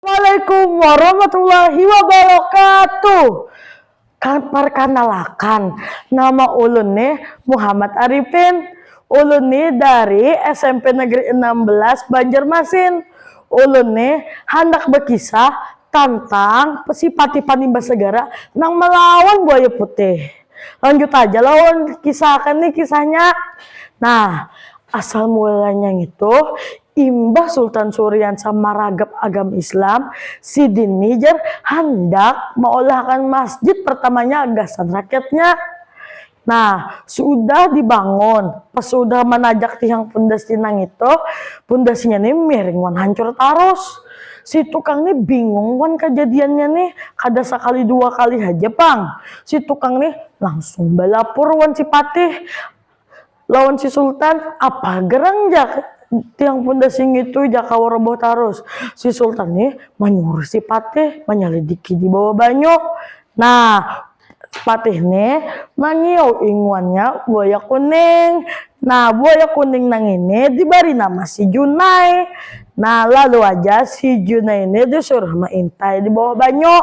Assalamualaikum warahmatullahi wabarakatuh. Parkanalakan, nama ulun ni Muhammad Arifin. Ulun ni dari SMP Negeri enam belas Banjarmasin. Ulun ni handak bakisah tantang sipati panimba segara nang malawan buaya putih. Lanjut aja lah ulun kisahkan nih kisahnya. Nah, asal mulanya ngitu, imbah Sultan Suriansa maragap agama Islam, sidin nih jar handak maolahkan masjid pertamanya gasan rakyatnya. Nah, sudah dibangun, pas sudah manajak tihang pundasi nangitu, pundasinya nih miring wan hancur tarus. Si tukang nih bingung wan kajadiannya nih, kada sakali dua kali haja pang. Si tukang nih langsung balapur wan si patih lawan si sultan, apa gerang ja tiang pundasi ngitu ja kawa roboh tarus. Si sultan nih manyuruh si patih manyalidiki di bawah banyu. Nah, patih nih mangiau inguannya buaya kuning. Nah, buaya kuning nang ini dibari nama si junai. Nah, lalu haja si junai nih disuruh maintai di bawah banyu.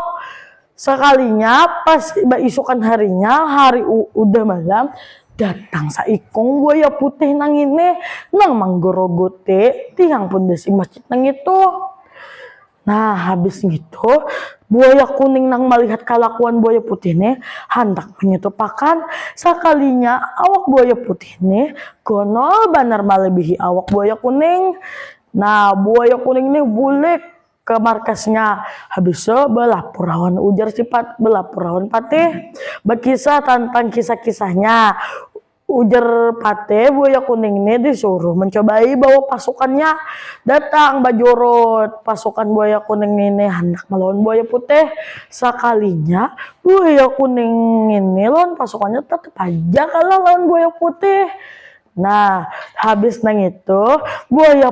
Sakalinya pas baisukan harinya, hari udah malam, datang saikung buaya putih nang ngini nang manggaruguti tiang pundasi masjid nang ngitu. Nah, habis ngitu, buaya kuning nang malihat kalakuan buaya putih nih handak manyutupakan, sakalinya awak buaya putih nih gonol banar malibihi awak buaya kuning. Nah, buaya kuning nih bulik. ka markasnya. Habis tu balapur lawan ujar si Patih, balapur lawan Patih, bakisah tantang kisah-kisahnya. Ujar Patih, buaya kuning ni disuruh mancobai bawa pasukannya. Datang bajurut pasukan buaya kuning ngini handak malawan buaya putih. Sakalinya buaya kuning ngini lawan pasukannya tatap haja kalah lawan buaya putih. Nah, habis nangitu buaya.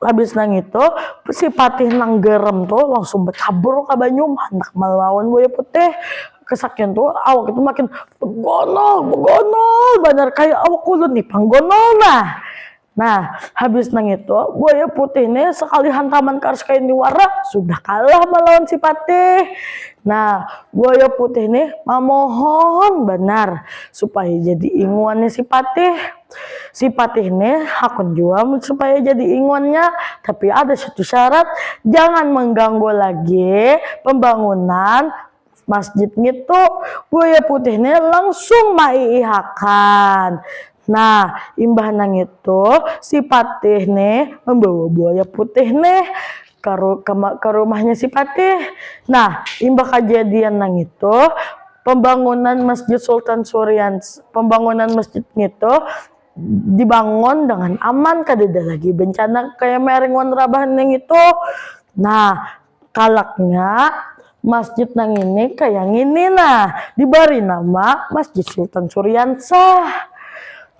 Habis nangitu, si Patih nang garem tu langsung bacabur ka banyu, handak malawan Buaya Putih. Kasakian tu, awak itu makin bagonol, bagonol banar, kaya awak ulun nih pang gonol nah. Nah, habis nangitu, Buaya Putih nih sakali hantaman karas kaya ini wara, sudah kalah malawan si Patih. Nah, Buaya Putih nih mamohon banar supaya jadi inguannya si Patih. Si Patih ne hakun jua mun supaya jadi ingonnya, tapi ada satu syarat, jangan mengganggu lagi pembangunan masjid ngitu. Buaya Putih ne langsung maiihakan. Nah, imbah nangitu si Patih ne membawa Buaya Putih ne ka, ka, ka rumahnya si Patih. Nah, imbah kajadian nang itu, pembangunan Masjid Sultan Surian, pembangunan masjid ngitu dibangun dengan aman, kadada lagi bencana kaya maring wan rabahan nang itu. Nah, kalaknya Masjid nangini kaya ngini nah, dibari nama Masjid Sultan Suriansah.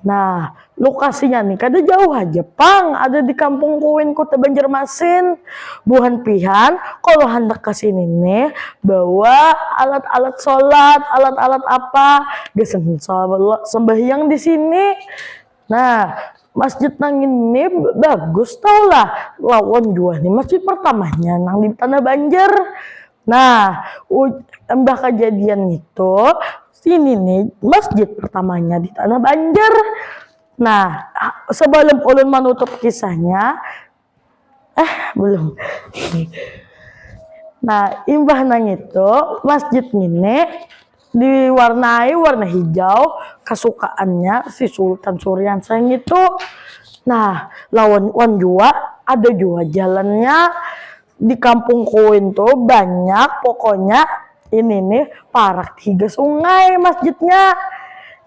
Nah, lukasinya nih kada jauh haja pang ada di Kampung Kuin, Kuta Banjarmasin. Buhan pihan kalo handak ka sini nih bawa alat-alat solat, alat-alat apa gasan sambahiyang di sini. Nah, masjid nang ini bagus tahu lah lawan jua ni masjid pertamanya nang di Tanah Banjar. Nah, imbah kajadian ngitu, ini ni masjid pertamanya di Tanah Banjar. Nah, sebelum ulun manutup kisahnya, eh belum nah imbah nangitu masjid ngini diwarnai warna hijau kasukaannya si Sultan Suriansyah ngitu nah lawan wan jua ada jua jalannya di kampung kuin tu banyak pokoknya ini nih parak higa sungai masjidnya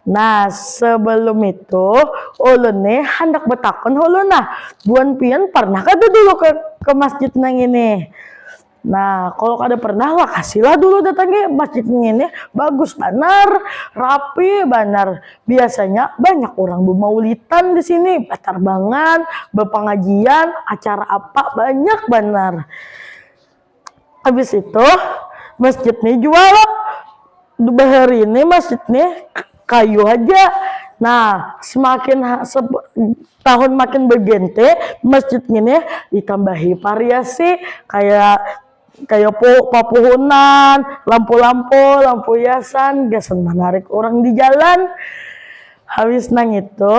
Nah, sebelum itu, ulun nih handak betakun hulu nah, buan pian pernah kada dulu ke, ke masjid nang ini? Nah, kalau kada pernah lakasilah dulu datangi masjid nang ini, bagus banar, rapi banar, biasanya banyak urang bemaulitan di sini, betarbangan, bepengajian, acara apa banyak banar. habis itu masjid nih jua lo bahari ini masjid nih kayu haja nah semakin tahun makin berganti masjid ini ditambahi variasi kayak kayak po papuhunan lampu-lampu lampu hiasan gasan menarik orang di jalan habis nang itu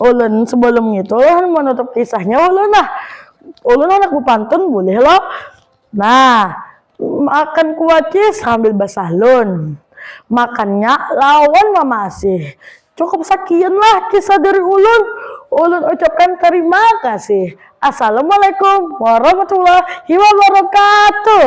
ulun sebelum itu ulun menutup kisahnya ulun nah Ulun handak bapantun bulih lo? Nah, makan kuaci sambil basahlun. Makannya lawan mamasih. Cukup sakian lah kisah dari ulun. Ulun ucapkan tarima kasih. Assalamualaikum warahmatullahi wabarakatuh.